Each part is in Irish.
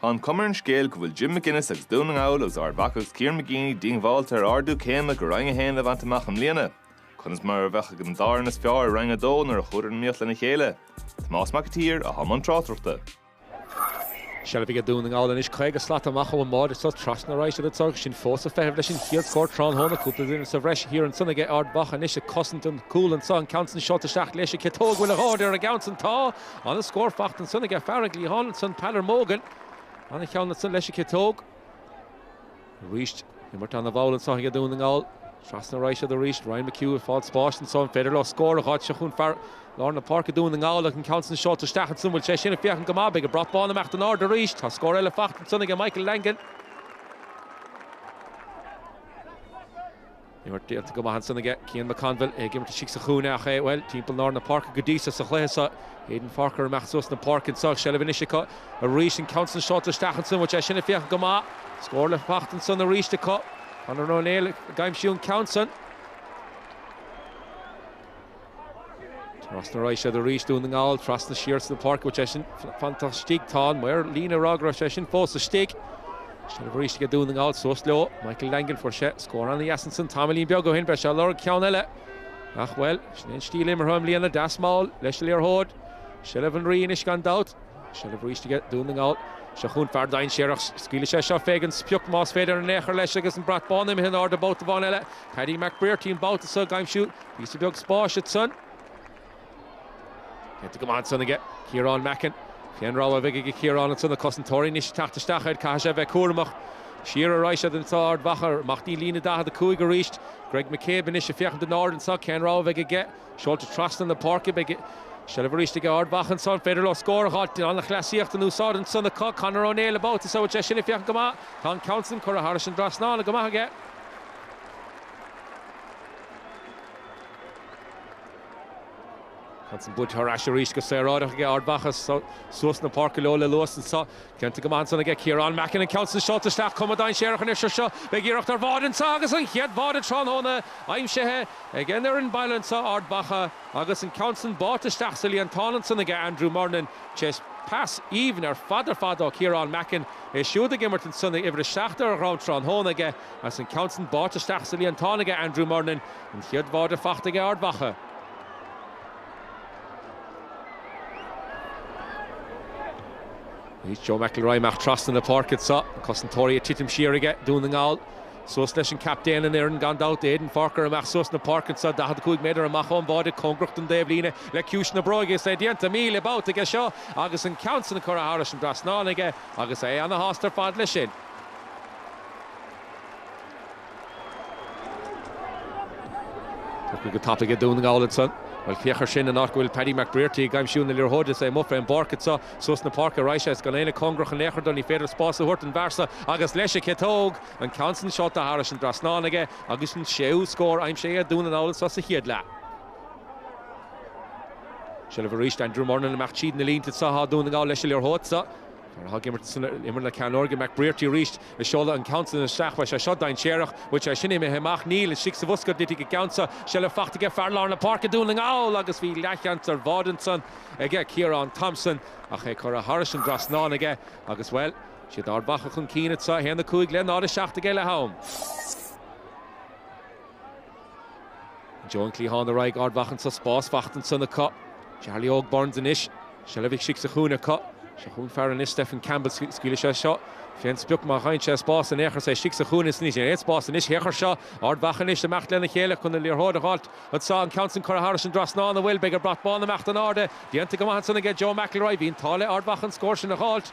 Tá an chuma ar an scéal go bhfuil Jim McGuinness agus Dún na nGall agus Ard Mhacha agus Kieran McGeeney diongbháilte ar ardú céime go Roinn 1 a bhaint amach i mbliana. Conas mar a bheadh ag an dá fhoireann is fearr i Roinn 2 nuair a chuadar in iomaíocht lena chéile? Tomás Mac an tSaoir, atá i mbun tráchtaireachta. Seilbh aige Dún na nGall anois, 50 slat amach ón mbáide anso, trasna a raghaidh siad, táid sin fós ag feitheamh leis an chéad scór tráthnóna. Cúpla duine sa bhreis thiar ansan aige Ard Mhacha anois ag cosaint an chúil anso, an ceann san seolta isteach leis an gciotóg, bhfuil a dhóthain ar an gceann san? Tá! Ana scór faighte ansan aige fear an gcliatháin ansan, Peadar Mogan. Ana cheann ansan leis an gciotóg. Arís imirt ana mhall anso aige Dún na nGall. Trasna a raghaidh siad arís. Ryan McHugh ag fáil spáis anso. An féidir leo scór a dh'fháilt? Seo chughainn fear lár na páirce Dún na nGall agus an ceann san seolta isteach ansan. Bhfuil sé sin ag féachaint go maith. Beidh an brat bán ag imeacht in airde arís. Tá scór eile faighte ansan aige Michael Langan. Imirt déanta go maith ansan aige. Cian McConville ag imirt istigh sa chúinne ach é, bhuel, timpeall lár na páirce go dtí so sa chluiche so. Aidan Forker ag imeacht suas na páirce anso agus seilbh anois acu arís an ceann san seolta isteach ansan. Bhfuil sé sin ag féachaint go maith. Scór le theacht ansan arís acu. Conor Ó Néill ag aimsiú an ceann san. Trasna a raghaidh siad arís Dún na nGall, trasna siar na páirce, bhfuil sé sin fanta istigh. Tá an maor líne ag rá go raibh sé sin fós istigh. Seilbh arís aige Dún na nGall suas leo. Michael Langan fuair sé scór ana dheas ansan tamaillín beag ó shin. Beidh sé ag lorg ceann eile. Ach bhuel, sin an stíl imeartha i mbliana, deas mall leis an liathróid. Seilbh an rí anois gan dabht. Seilbh arís aige Dún na nGall. Seo chughainn fear dainséarach. Scaoilfidh sé seo féig an sprioc más féidir in aon chor leis agus an brat bán imithe in airde babhta amháin eile. Paddy McBrearty an babhta so ag aimsiú Píosa beag spáis ansan. Déanta go maith ansan aige Ciarán Mackin. Cén rogha a bheidh ag Ciarán ansan, na cosantóirí anois ag teacht isteach air, caithfidh sé a bheith cúramach. Siar a raghaidh siad anseo Ard Mhacha, amach dtí líne 45 arís. Greg McCabe anois ag féachaint in airde anseo, cén rogha a bheidh aige? Seolta trasna na páirce, beidh seilbh arís ag Ard Mhacha anseo, an féidir leo scór a dh'fháilt? An-chleasaíocht in úsáid ansan acu, Conor Ó Néill an babhta so, bhfuil sé sin ag féachaint go maith? Tá an ceann san curtha thairis an dtrasnán go maith aige. Ceann san buaite ar ais arís go saoráideach aige, Ard Mhacha suas na páirce leo le luas anseo. Déanta go maith ansan aige, Ciarán Mackin an ceann san seolta isteach, cuma dainséarach anois air seo, beidh iarracht ar bháide anseo agus an chéad bháide tráthnóna aimsithe ag an fhoireann baile anseo, Ard Mhacha agus an ceann san báite isteach sa líontán ansan aige, Andrew Murnin tar éis pas aoibhinn ar fad ar fad ó Chiarán Mackin, é siúd ag imirt ansan agus uimhir a seacht ar a dhroim tráthnóna aige. Is an ceann san buailte isteach sa líontán aige Andrew Murnin, an chéad bháide faighte aige Ard Mhacha. Joe McElroy amach trasna na páirce anseo, na cosantóirí ag titim siar aige Dún na nGall. Suas leis an gcaptaen an fhoireann gan dabht, Aidan Forker amach suas an pháirc anseo, 45 méadar amach ón bháide, cóngarach don dtaobhlíne le ciumhais na bróige is é déanta míle babhta aige seo agus an ceann san curtha thairis an dtrasnán aige agus é ana shásta ar fad leis sin. Go tapaidh ag Dún na nGall ansan. Bhuel, féach ar sin, an áit go bhfuil Paddy McBrearty ag aimsiú na liathróide, is é amuigh fén bpáirc anseo, suas na páirce arís é, is gan éinne cóngarach in aon chor dó, ní féidir spás a thabhairt don bhfear so agus leis an gciotóg! An ceann san sáite thairis an dtrasnán aige agus an séú scór aimsithe ag Dún na nGall anseo sa chéad leath. Seilbh arís d'Andrew Murnin amach tríd na línte, seo chucu Dún na nGall leis an liathróid seo. Nuair a thug imirt san imirt le ceanndánacht McBrearty arís, ag seoladh an ceann san isteach, bheadh sé seo dainséarach, an bhfuil sé sin imithe amach, níl, istigh sa bhosca a dtitfidh an ceann seo, seilbh fachta aige fear lár na páirce Dún na nGall agus bhí leathsheans ar bháide ansan aige, Ciarán Thompson, ach é curtha thairis an dtrasnán aige agus, bhuel, is iad Ard Mhacha chun cinn anseo, 1-5 le 0-7 aige leath-am. I dtreo an chliatháin ar ár n-aghaidh Ard Mhacha anseo, spás faighte ansan acu. Jarly Óg Burns anois, seilbh istigh sa chúinne acu. Seo chugainn an fear anois Stefan Campbell, scaoilfidh sé seo fén sprioc má gheibheann sé spás in aon chor, is é istigh sa chúinne anois, níl aon spás anois in aon chor aige seo. Ard Mhacha anois ag imeacht lena chéile chun an liathróid a dh'fháilt anseo, an ceann san curtha thairis an dtrasnán an bhfuil, beidh an brat bán ag imeacht in airde, déanta go maith ansan aige Joe McElroy, bhí an t-ádh le Ard Mhacha an scór sin a dh'fháilt.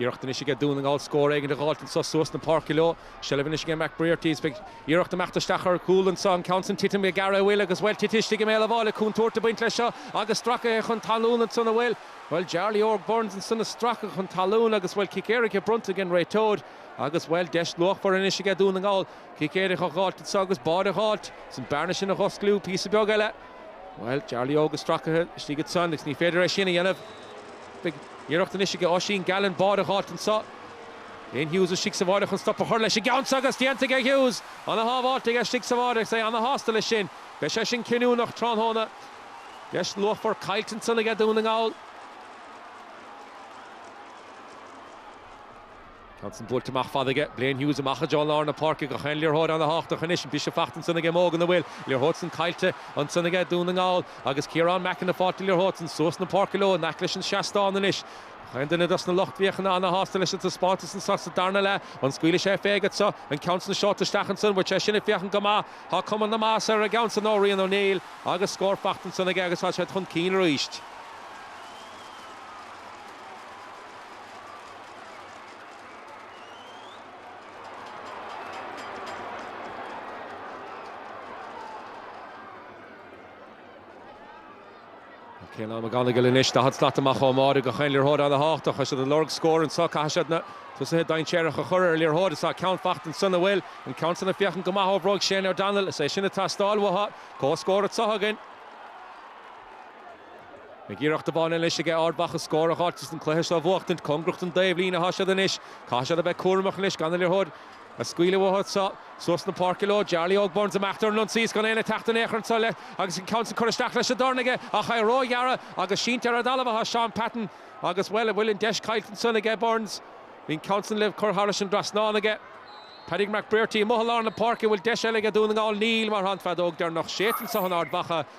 Iarracht anois aige Dún na nGall scór éigin a dh'fháilt anso suas na páirce leo. Seilbh anois aige McBrearty is é ag iarraidh imeacht isteach ar chúl anso, an ceann san ag titim gearra an bhfuil agus bhuel titithe istigh i mbéal a' bháire contúirt a' baint leis seo agus stracaithe chun talún ansan an bhfuil bhuel Jarly Óg Burns ansan a' stracadh chun talún agus bhuel cic éirice bronnta ag an réiteoir agus bhuel deis luachmhar anois aige Dún na nGall cic éirice a dh'fháilt anso agus báide a dh'fháilt is an bearna sin a dh'oscailt píosa beag eile. Bhuel, Jarly Óg is stracaithe istigh ansan agus ní féidir é sin a dhéanamh. Beidh iarracht anois aige Oisín Gallen báide a dh'fháilt anseo. Blaine Hughes istigh sa bháire chun stop a chur leis an gceann seo agus déanta aige Hughes. Ana-shábháilt aige istigh sa bháire agus é ana-shásta leis sin. Beidh sé sin cinniúnach tráthnóna. Deis luachmhar caillte ansan aige Dún na nGall. An ceann san buailte amach fada aige, Blaine Hughes amach i dtreo lár na páirce gach aon liathróid ana-thábhachtach anois, bhí sé faighte ansan aige Mogan an bhfuil, an liathróid san caillte, ansan aige Dún na nGall, agus Ciarán Mackin ag fáilt an liathróid san suas na páirce leo in aice leis an seastán anois. Gach aon duine dos na lucht féachana an-shásta leis an taispeántas anseo sa darna leath, an scaoilfidh sé fé aige so, an ceann san seolta isteach ansan, bhfuil sé sin ag féachaint go maith, tá cuma na maitheasa ar an gceann san ó Rian O'Neill, agus scór faighte ansan aige agus tá siad chun cinn arís. Caolan McGonagle anois, 40 slat amach ón mbáire, gach aon liathróid ana-thábhachtach, tá siad ag lorg scóir anseo. Caithfidh siad na tosaithe dainséaracha a chur ar an liathróid. Is tá ceann fachta ansan, an bhfuil an ceann san ag féachaint go maith ó bhróig Shane O'Donnell. Is é sin atá ag teastáil uathu. Comhscór anseo againn. Ach iarracht amháin anois aige Ard Mhacha scór a ghabháilt is an cluiche seo a bhuachtaint. Cóngarach don dtaobhlíne atá siad anois. Caithfidh siad a bheith cúramach anois gan an liathróid a scaoileadh uathu anseo. Suas na páirce leo. Jarly Óg Burns amach ar an ionsaí is gan éinne ag teacht in aon chor anseo agus an ceann sin curtha isteach leis an dorn aige ach é róghearr agus sínte ar an dtalamh atá Shaun Patton agus, bhuel, an bhfuil an deis caillte ansan aige Burns? Bhí an ceann san le cur thairis an dtrasnán aige. Paddy McBrearty amuigh i lár na páirce, an bhfuil deis eile aige Dún na nGall? Níl, mar tá an feadóg deireanach séidte anseo in Ard Mhacha.